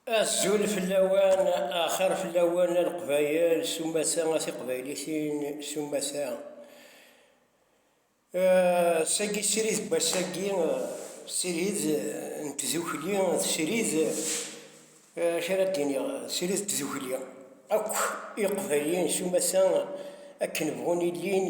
Azul fell-awen, axir fell-awen a Leqbayel, s umata a tiqbaylitin, s umata. Sagi srid n wass-agi, srid n tdukli, srid, acu ara d-iniɣ, srid n tdukli akk iqbayliyen s umata akken bɣun illin,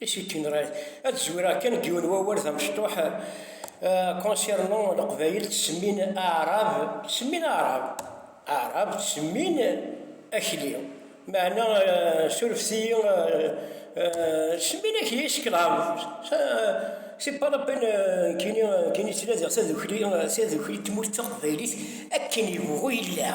Is it in right? Ad zwireɣ kan deg yiwen n wawal d amecṭuḥ concernant Leqbayel ttsemmin Aɛrab, ttsemmin Aɛrab, Aɛrab ttsemmin Akli. Meɛna surfet-iyi, ttsemmin Akli i Sclave. C'est pas la peine nekkini, nekkini ttnadiɣ tadukli, tadukli n tmurt taqbaylit akken yebɣu yella.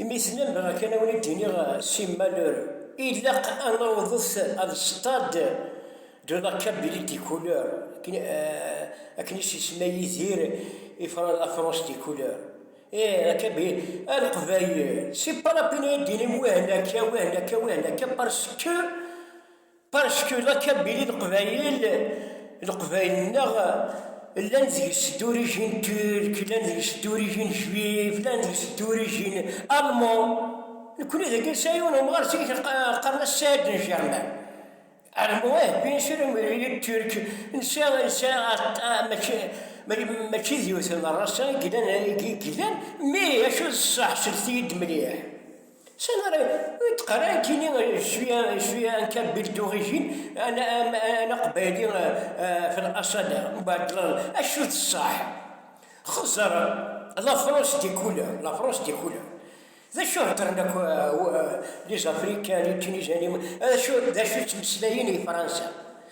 Imi tellam bɣiɣ kan ad wen-id-iniɣ simmal ilaq ad nawḍet ad stade de la Kabylie des couleurs akken i s-isemma Yidir i la France des couleurs ih la Kabylie a leqbayel c'est pas la peine ad yi-d-tinim wihen akka wihen akka wihen akka parce que Parcku laka belli leqbayel, leqbayel-nneɣ, llan deg-s d'origine turque, llan deg-s d'origine juive, llan deg-s d'origine allemand, nekkni dagi nesɛa yiwen umɣar zik qqaren-as Saïd n Germain, allemand ih bien sûr imi turque nesɛa mačči mačči d yiwet n race i yellan mais acu ṣṣeḥ sellket-iyi-d mliḥ. Sani ara yeṭqer akini cwiya cwiya anka bil d'origine ana ana aqbayli fi l'asal mbaɛdel acu d ṣṣeḥ xeẓẓer la France des couleurs la France des couleurs d acu heddren akk les africains les tunisiens d acu d acu ttmeslayen i Fransa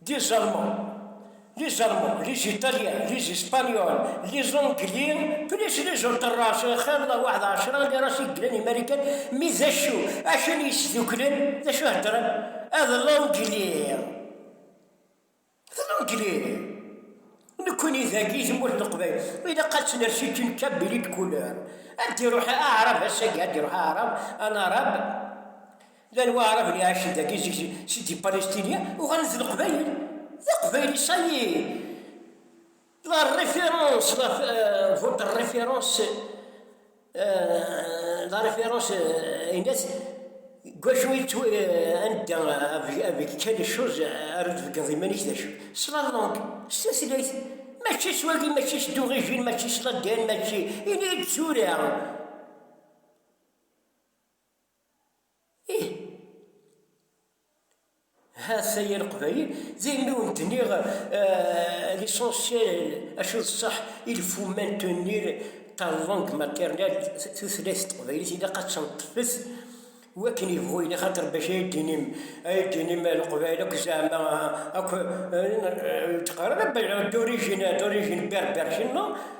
d Iẓerman, d Iẓerman, d Iziṭalyan, d Izispanyon, d Iẓengli, plus d Izuṭerras, xir d waḥed ɛecra n iras i yeglan Imarikan, mi d acu, acu n yisduklen, d acu heddren? Ad Langli, d Langli, nekkni dagi tmurt n Leqbayel, ilaq ad tt-ners i une kabili de couleur, ad d-iruḥ aɛrab ass-agi, ad d-iruḥ aɛrab, un arabe, Llan waɛraben iɛacen dagi seg seg di Palestina uɣalen d leqbayel. D aqbayli ça y est. La référence la votre référence la référence aynas deg wacu i ttwa anda avec quelle chose ara d-tbeggneḍ iman-ik d acu. S la langue s tutlayt mačči s wagi mačči s d'origine mačči s l'ADN mačči ini-yi-d tura. Ih, ha-t-a yir Leqbayel, d ayen i wen-d-nniɣ, l'essentiel, acu d ṣṣeḥ, il faut maintenir ta langue maternelle, tutlayt teqbaylit ilaq ad tenṭef-t wakken yebɣu yili, axaṭer bac ay d-tinim, ay d-tinim Leqbayel akk zeɛma akk, d-teqqareḍ d origine berber, cino.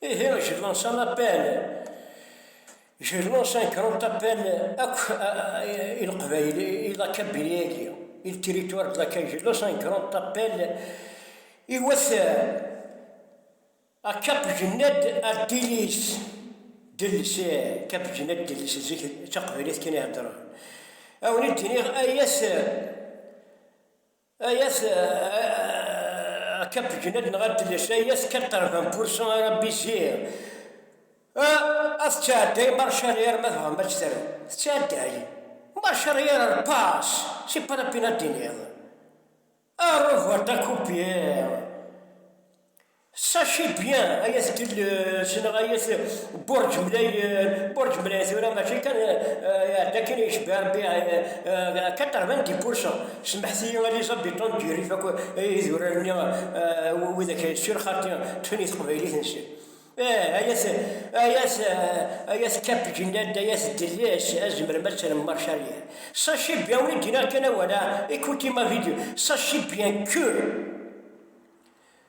Ihi je lance un appel, je lance un grand appel akk i Leqbayel, i Lakabylie-agi, i le territoire de Lakabylie, je lance un grand appel i wat à Cap Gened à Délice, Délice, Cap Gened Délice, zik d taqbaylit kan i heddren, a wen-id-iniɣ ay at, Ayas a Cap Genad neɣ a Dles, ayas 80% ara biziɣ. A tettɛedday marcari arma dɣa ma tt-terra. Tettɛedday. Marcari ara repas, c'est pas la peine ad d-tiniḍ. Au revoir ta coupière. Sachez bien ay at Tilles neɣ ay at Burǧ Mlayen, Burǧ Mlayen tura mačči kan iɛedda akken i yecba Rebbi 80 di pourcent, semḥet-iyi Alizabit n Ǧirif akk idurar-nni widak sur xaṭi ṭṭfen i teqbaylit-nsen. Ih ay at ay at ay at Kapj nnan-d ay at Delles ad tzemrem ad terrem Marcharrière. Sachez bien wi d-iniɣ kan awal-a, écoutez ma vidéo, sachez bien que.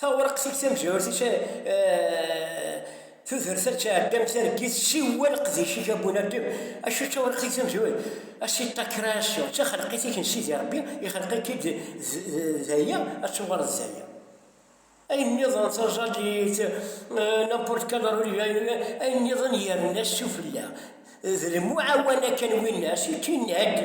Tawraqt ur tamezwarut i tudert ad tɛeddam targit siwa leqdic-ik a Bunadem, acu d tawraqt i tamezwarut? A si ta création, d taxelqit-ik n Sidi Rebbi, ixelq-ik-id d aya ad tuɣaleḍ d aya. Ayen nniḍen taẓallit, n'importe quel rôle, ayen nniḍen yerna sufella, d lemuɛawana kan winna, c'est une aide.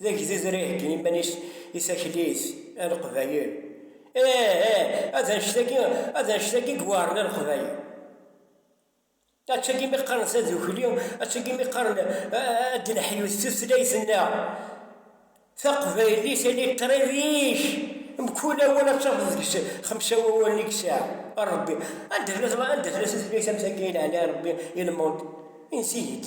D agdud ara iheggi iman-is i taklit a leqbayel. Ih, ih, ad anect-agi, ad anect-agi i iweɛren a leqbayel. Ad tagi mi qqaren tadukli, ad tagi mi qqaren ad d-neḥyut tutlayt-nneɣ taqbaylit, ali qrib ik, mkul awal ad tafeḍ deg-s xemsa wawalen i yesɛa. A Rebbi, anda tella, anda tella tutlayt am tagi i leɛli a Rebbi i lmond? Insi-yi-d.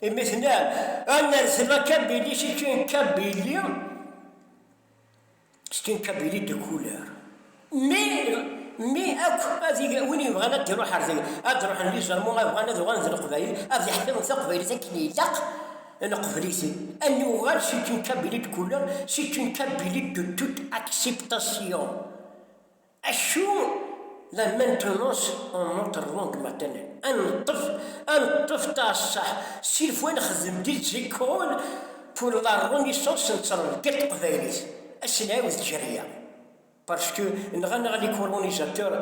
Imi tenna, ad nerzel akabili s kin kabili, s kin kabili de couleur. Mi, mi akk ad win yebɣan ad iruḥ ar tagi, ad ruḥen li Jalman ma bɣan ad uɣalen d Leqbayel, ad iḥtiren taqbaylit akken ilaq, neqbel-iten. Ad nuɣal s kin kabili de couleur, s kin kabili de toute acceptation. Acu la maintenance en notre langue maternelle? Ad neṭṭef, ad neṭṭef taassaḥ, s'il faut ad nexdem des écoles pour la renaissance n trelked teqbaylit, ad s-nɛiwed tjerya, parce que nɣan-aɣ les colonisateurs,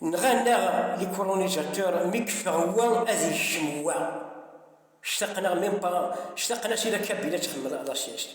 nɣan-aɣ les colonisateurs, mi yeffeɣ wa ad yekcem wa, ctaqen-aɣ même pas, ctaqen-as i la Kabila ad txemmel la sieste.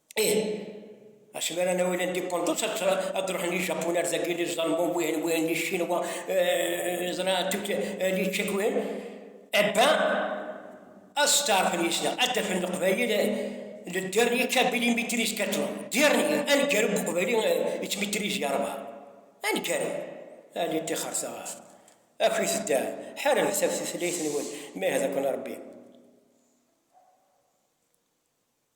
Ih, asmi ara nawi la indépendance ad ruḥen ijapun ar dagi li ẓalmun wihin wihin li ccinwa ẓra tut li čček wihin ebba ad steɛrfen yisna ad d-afen leqbayel le dernier kabili maîtrise 4 dernier aneggaru n uqbayli yettmaîtrise yerba aneggaru ali ṭixerta akit dda ḥarabet ɣef tutlayt-nwen ma ihda-ken Rebbi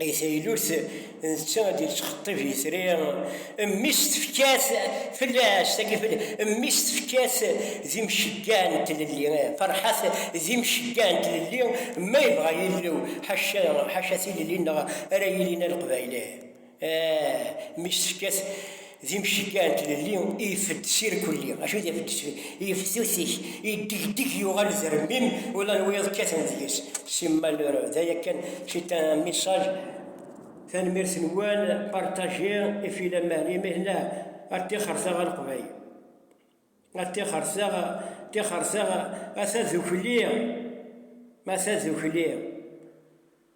I taylut, netta ad yettxeṭṭib itri, mmi-s tefka-t fell-as, tagi fell, mmi-s tefka-t d imcegga n tlelli, Ferḥat d imcegga n tlelli, ma yebɣa Yillu, ḥaca, ḥaca tilelli-nneɣ ara yilin a Leqbayel, eh, mmi-s tefka-t. d imceggaɛ n tlelli i ifed s irkelli, acu d ifed s yeftutik, yeddegdeg yuɣal d rmim, ula n wiyaḍ kkaten deg-s, c'est malheureux, d aya kan, c'est un message, tanemmirt-nwen, partager, et puis la main, imihna, a ṭṭixer-taɣ a Leqbayel, a ṭṭixer-taɣ, ṭṭixer-taɣ, a tadukli, a tadukli.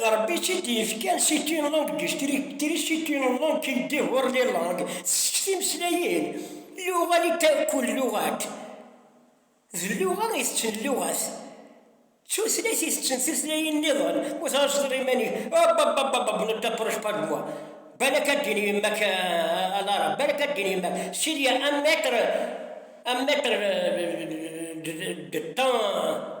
d Ṛebbi i tt-id-yefkan si tune langue du strictri si tune langue qui dévore les langues tessek timeslayin luɣa li taakul luɣat d luɣa i tetten luɣat d tutlayt i tetten tutlayin niḍen ur tɛaceḍ iman-ik ababababab ne t'approche pas de moi balak ad d-tini yemma-k a l'arabe balak ad d-tini yemma-k s'il y a un mètre un mètre de temps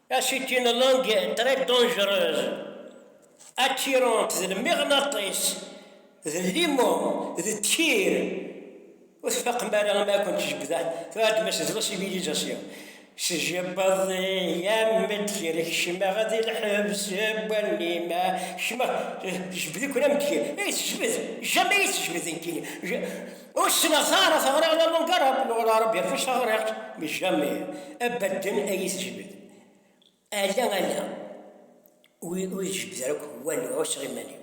A c'est une langue très dangereuse, attirante d lmiɣnaṭis, d limu, d tkir. Ur tfaqem ara ma ad kent-jebdeɣ, tɛedmem-as d la civilisation. Tjebdeḍ-i am tkir, kecmeɣ di lḥebs n wallim-a, kecmeɣ, tjebd-iken am tkir. Ay tejbed, jamais iyi-tejbed nekkini. Ur ssneɣ ara teɣriɣ la Lungara akked wala Ṛebbi ɣef wacu ɣriɣ mi jami abaden ay iyi-tejbed. Ala ala ur iyi-tejbed ara akk walu ɛusseɣ iman-iw.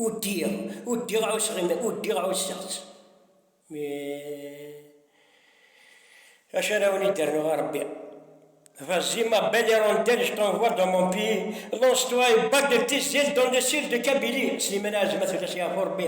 Udiɣ, udiɣ ɛusseɣ iman, udiɣ ɛusseɣ-tt. Mi acu ara awen-id-rnuɣ a Ṛebbi? Vas-y ma belle hirondelle je t'envoie dans mon pays, lance-toi et bats de tes ailes dans le ciel de Kabylie, Slimane Azem ad t-ulac yeɛfu Ṛebbi.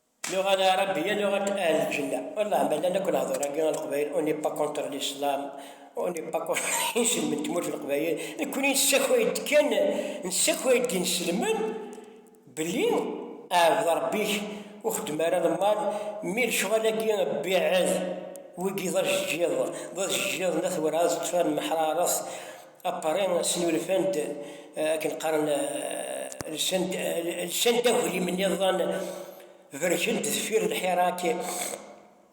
Nuɣ a Lɛarabi, ya nuɣ a Ahli Lǧenna. Wallah, ma llan akk lehdur-agi a Leqbayel, on n'est pas contre l'islam, on n'est pas contre iselmen n tmurt n Leqbayel, nekkni nessakay-d kan, nessakay-d inselmen belli ɛbed Rebbi-k, ur xeddem ara lemmal, mi lecɣal-agi beɛɛed, wigi d ajeǧǧiḍ, d ajeǧǧiḍ n At Wrɛez ṭṭfan meḥraret, Apari snulfan-d akken qqaren lsan-d aglim niḍen berken-d deffir lḥirak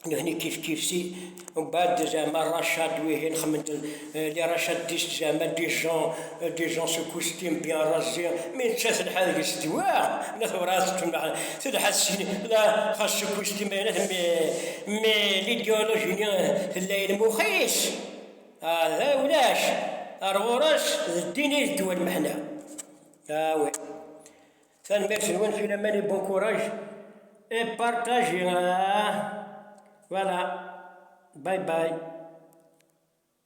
nutni kifkif si ubad zama racad wihin xemment li racad dis zama dijon dijon su kustim bi razi mi netta telḥa deg-s dwa la tewrad tmnaḥ telḥa sin la xas su kustim ayna mi mi l'idéologie ni tella ilmuxis D ulac, ar ɣur-s d ddin i d ddwa lmeḥna. Awi. Tanemmirt-nwen filaman i bon courage et partagez. Voilà. Bye bye.